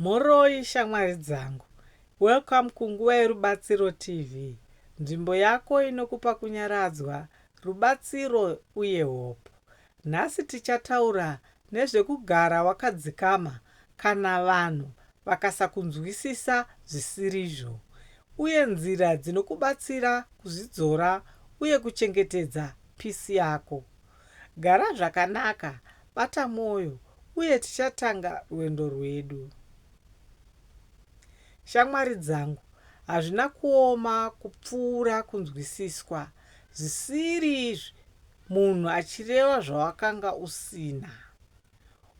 Mhoroi shamwari dzangu. Welcome kunguva yeRubatsiro TV, nzvimbo yako inokupa kunyaradzwa, rubatsiro uye hope. Nhasi tichataura nezvekugara wakadzikama kana vanhu vakasakunzwisisa zvisirizvo, uye nzira dzinokubatsira kuzvidzora uye kuchengetedza peace yako. Gara zvakanaka, bata mwoyo, uye tichatanga rwendo rwedu. Shamwari dzangu, hazvina kuoma kupfuura kunzwisiswa zvisiri izvi munhu achireva zvawakanga usina.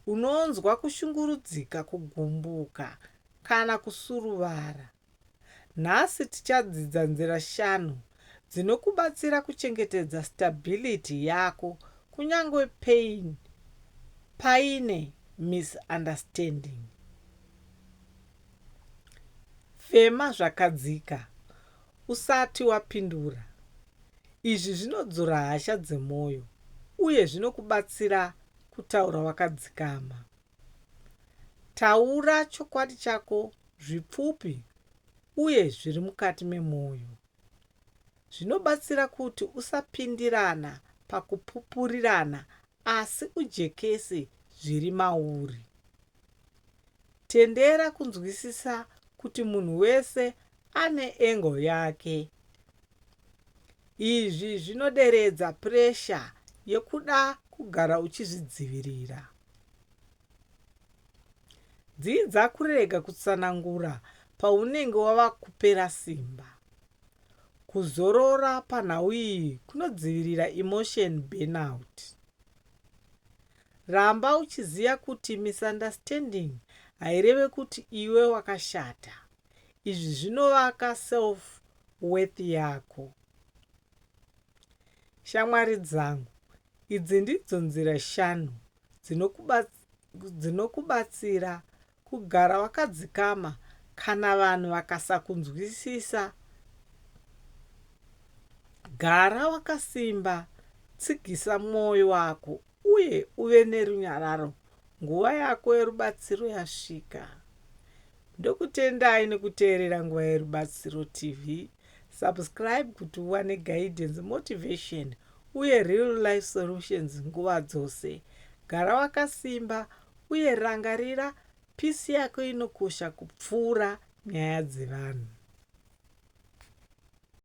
Unonzwa kushungurudzika, kugumbuka, kana kusuruvara. Nhasi tichadzidza nzira shanu dzinokubatsira kuchengetedza stability yako kunyangwe pain paine misunderstanding. Fema zvakadzika usati wapindura. Izvi zvinodzora hasha dzemoyo uye zvinokubatsira kutaura wakadzikama. Taura chokwadi chako zvipfupi uye zviri mukati memwoyo. Zvinobatsira kuti usapindirana pakupupurirana asi ujekese zviri mauri. Tendera kunzwisisa kuti munhu wese ane angle yake. Izvi zvinoderedza puresha yekuda kugara uchizvidzivirira. Dzidza kurega kutsanangura paunenge wava kupera simba. Kuzorora panhau iyi kunodzivirira emotion burnout. Ramba uchiziva kuti misunderstanding haireve kuti iwe wakashata. Izvi zvinovaka self worth yako. Shamwari dzangu, Idzi ndidzo nzira shanu dzinokubatsira kugara wakadzikama kana vanhu vakasakunzwisisa, Gara wakasimba, tsigisa mwoyo wako, uye uve nerunyararo nguva yako yerubatsiro yasvika. Ndokutendai nekuteerera Nguva Yerubatsiro TV. Subscribe kuti uwane guidance, motivation uye Real Life Solutions nguva dzose. Gara wakasimba uye rangarira peace yako inokosha kupfuura nyaya dzevanhu.